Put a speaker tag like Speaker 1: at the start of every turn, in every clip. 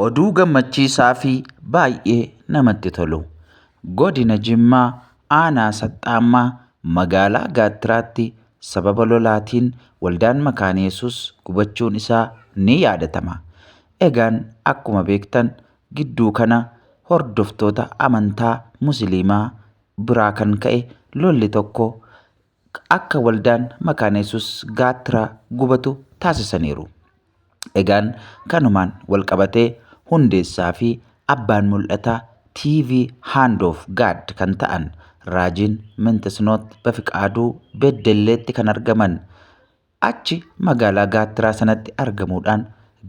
Speaker 1: Oduu gammachiisaa fi baay'ee namatti tolu. Godina Jimmaa aanaa Saxxaammaa magaalaa Gaattiraatti sababa lolaatiin waldaan Makaana Yesuus gubachuun isaa ni yaadatama. Egaan akkuma beektan gidduu kana hordoftoota amantaa musiliimaa biraa kan ka'e lolli tokko akka waldaan makaana yesus gaattiraa gubatu taasisaniiru. Egaan kanumaan walqabatee hundeessaa fi abbaan mul'ataa TV Hand of God kan ta'an raajiin Mintisnoot Bafiqaaduu Beddelleetti kan argaman Achi magaalaa gaattiraa sanatti argamuudhaan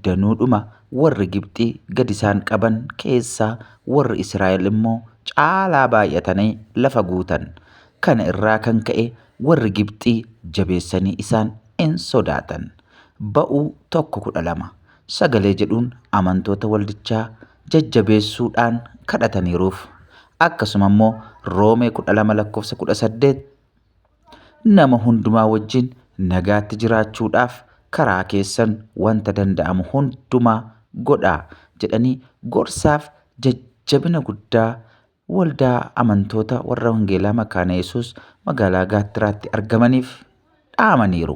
Speaker 1: danuudhuma warri Gibxii gad isaan qaban keessaa warri Israa'el immoo caalaa baay'atanii lafa guutan. Kana irraa kan ka'e warri Gibxii jabeessanii isaan in sodaatan. Ba'uu 1:12 Sagalee jedhuun amantoota waldichaa jajjabeessuudhaan kadhataniiruuf. Akkasuma immoo Roomee 12 lakkoofsa 18 Nama hundumaa wajjin nagaatti jiraachuudhaaf karaa keessan wanta danda'amu hundumaa godhaa jedhanii gorsaaf jajjabina guddaa waldaa amantoota warra Wangeelaa Makaana Yesuus magaalaa Gaattiraatti argamaniif dhaamaniiru.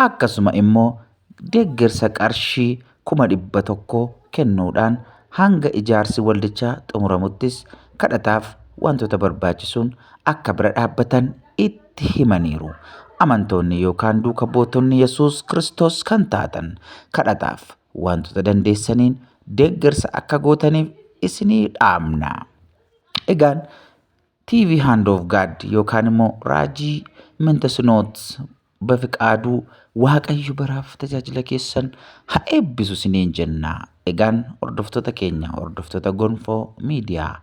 Speaker 1: Akkasuma immoo deeggarsa qarshii kuma 100 kennuudhaan hanga ijaarsi waldichaa xumuramuttis kadhataaf wantoota barbaachisuun akka bira dhaabbatan itti himaniiru. Amantoonni yookaan duuka buutonni Yesuus Kiristoos kan taatan kadhataaf wantoota dandeessaniin deeggarsa akka gootaniif isinii dhaamna. Egaan TV Hand of God yookaan immoo Raajii Mintes Notes Bafiqaaduu waaqayyo baraaf tajaajila keessan ha eebbisu siniin jenna egaan hordoftoota keenya hordoftoota gonfoo miidiyaa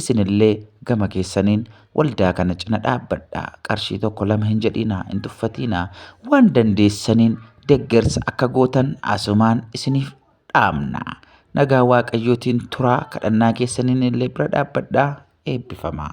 Speaker 1: isinillee gama keessaniin waldaa kana cina dhaabbadha qarshii tokko lama hin jedhiinaa hin tuffatiinaa waan dandeessaniin deggersa akka gootan asumaan isiniif dhaamna nagaa waaqayyootiin turaa kadhannaa keessaniin illee bira dhaabbadha eebbifamaa.